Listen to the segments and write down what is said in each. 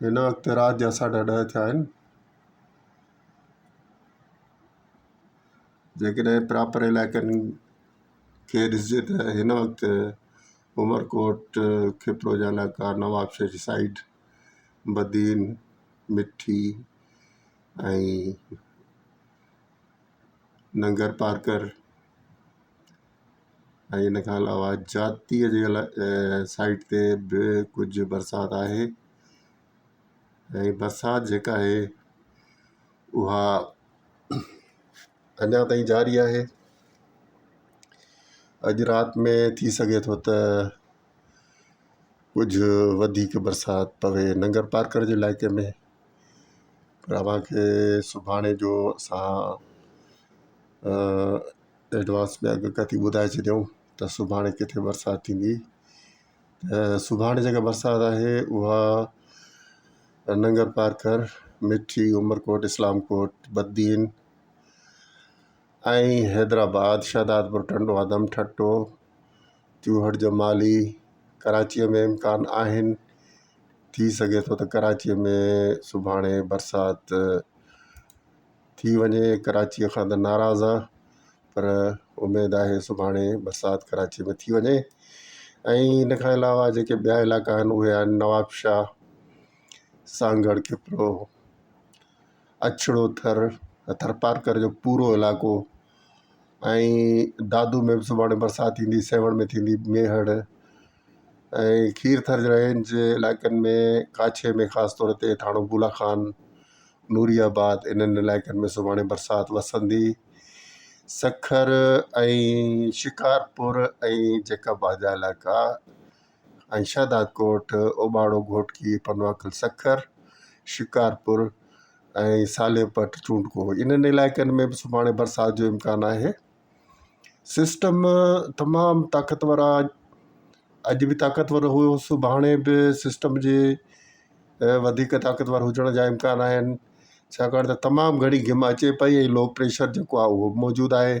هن وقت رات جا ساڍا ڏهه ٿيا آهن. جيڪڏهن پراپر علائقن کي ڏسجي ته هن وقت عمرڪوٽ، کپروجا علائقا، نوابشاهه جي سائيڊ، بدين، مٺي ۽ ننگرپارڪر ۽ ان کان علاوه جاتيء جي سائيٽ تي به ڪجهه برسات آهي ۽ برسات جيڪا آهي اها اڃا تائين جاري آهي اڄ رات ۾ ٿي سگهي ٿو ته ڪجهه وڌيڪ برسات پوي ننگرپارڪر جي علائقي ۾ پر اوهان کي سڀاڻي جو اسان ايڊوانس ۾ اگهه ڪٿي ٻڌائي ڇڏيون ته سڀاڻي ڪٿي برسات ٿيندي ۽ سڀاڻي جيڪا برسات آهي اها ننگر پارڪر مٺي عمرڪوٽ اسلام ڪوٽ بدين ۽ حيدرآباد، شهدادپور، ٽنڊو آدم، ٺٽو، چوهٺ جو مالهي ڪراچيء ۾ امڪان آهن، ٿي سگهي ٿو ته ڪراچيء ۾ سڀاڻي برسات ٿي وڃي، ڪراچيء کان ته ناراض آ پر اميد آهي سڀاڻي برسات ڪراچيء ۾ ٿي وڃي ۽ ان کان علاوه جيڪي ٻيا علائقا آهن اهي آهن نوابشاهه، سانگهڙ، کپرو. اڇڙو ٿر ٿرپارڪر جو پورو علائقو ۽ دادو ۾ به سڀاڻي برسات ٿيندي سيوهڻ ۾ ٿيندي ميهڙ ۽ کير ٿر جي رهيل جي علائقن ۾ ڪاڇي ۾ خاص طور تي ٿاڻو بولا خان نوري آباد انهن علائقن ۾ سڀاڻي برسات وسندي سکر ۽ شڪارپور ۽ جيڪب آجا علائقا ۽ شهداد ڪوٽ، اوٻاڙو گهوٽڪي، پنواڪل سکر، شڪارپور ۽ ساليپٽ چونڊڪو انهن علائقن ۾ به سڀاڻي برسات جو امڪان آهي. سسٽم تمام طاقتور آهي اڄ به طاقتور هيو سڀاڻي به سسٽم جي وڌيڪ طاقتور هجڻ جا امڪان آهن ڇاڪاڻ ته تمام گهڻي گهم اچي پئي ۽ لو پريشر جيڪو آهي اهو موجود آهي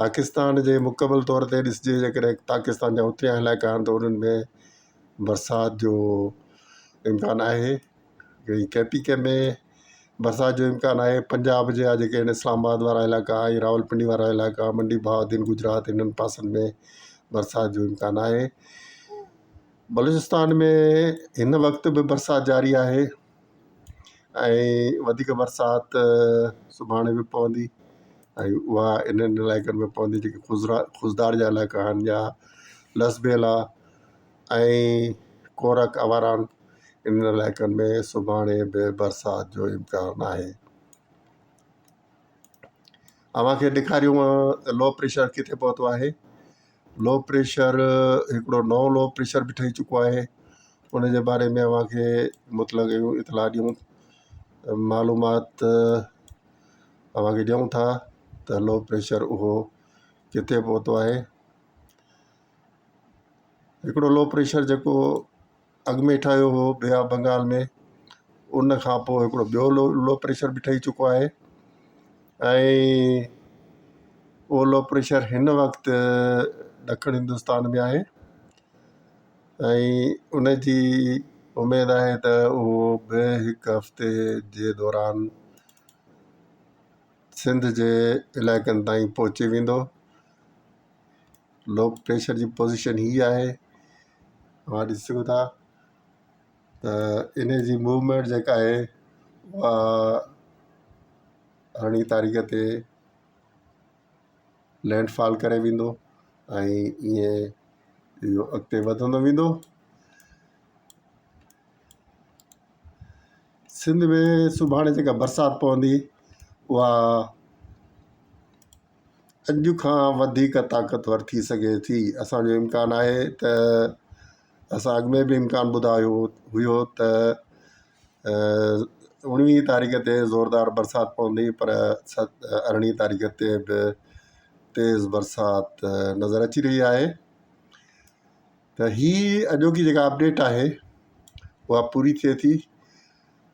پاڪستان جي مڪمل طور تي ڏسجي جيڪڏهن پاڪستان جا اتريا علائقا آهن ته انهن ۾ برسات جو امڪان آهي ۽ ڪي پي ڪي ۾ برسات جو امڪان آهي پنجاب جا جيڪي آهن اسلام آباد وارا علائقا ۽ راول پنڊي وارا علائقا منڊي بهاودين گجرات انهن پاسن ۾ برسات جو امڪان آهي بلوچستان ۾ هن وقت به برسات جاري آهي ۽ وڌيڪ برسات سڀاڻي به پوندي ۽ اها انهن علائقن ۾ پوندي جيڪي خضرا خضدار جا علائقا آهن يا لسٻيلا ۽ ڪورڪ اواران انهن علائقن ۾ سڀاڻي به برسات جو امڪان آهي اوهان کي ڏيکاريون لو پريشر ڪٿي پهتو آهي لو پريشر هڪڙو نئون لو پريشر به ٺهي چڪو آهي ان جي باري ۾ اوهان کي مطلب اهڙيون اطلاع ڏيون معلومات اوهان کي ڏيون ٿا ته لو پريشر اهو ڪٿي پهتو آهي هڪڙو لو پريشر جيڪو اڳ ۾ ٺهيو هو بي آف بنگال ۾ ان کان پوء هڪڙو ٻيو لو لو پريشر به ٺهي چڪو آهي ۽ اهو لو پريشر هن وقت ڏکڻ هندستان ۾ آهي ۽ ان جي اميد آهي ته اهو به هڪ هفتي جي دوران سنڌ جي علائقن تائين پهچي ويندو لو پريشر جي پوزيشن هي آهي اوهان ڏسي سگهو ٿا ته ان جي موومينٽ جيڪا آهي اها ارڙهين تاريخ تي لينڊ فال ڪري ويندو ۽ ائين اهو اڳتي وڌندو ويندو سنڌ ۾ سڀاڻي جيڪا برسات پوندي اها اڄ کان وڌيڪ طاقتور ٿي سگهي ٿي اسان جو امڪان آهي ته اسان اڳ ۾ به امڪان ٻڌايو هيو ته اوڻويهه تاريخ تي زوردار برسات پوندي پر ست ارڙهين تاريخ تي به تيز برسات نظر اچي رهي آهي ته هي اڄوڪي جيڪا اپڊيٽ آهي اها پوري ٿئي ٿي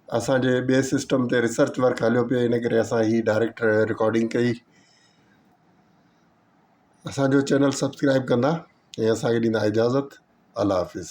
اسانجي ٻئي سسٽم تي ريسرچ ورڪ هليو پيو ان ڪري اسان هي ڊائريڪٽ رڪارڊنگ ڪئي اسانجو چينل سبسڪرائب ڪندا ۽ اسانکي ڏيندا اجازت الله حافظ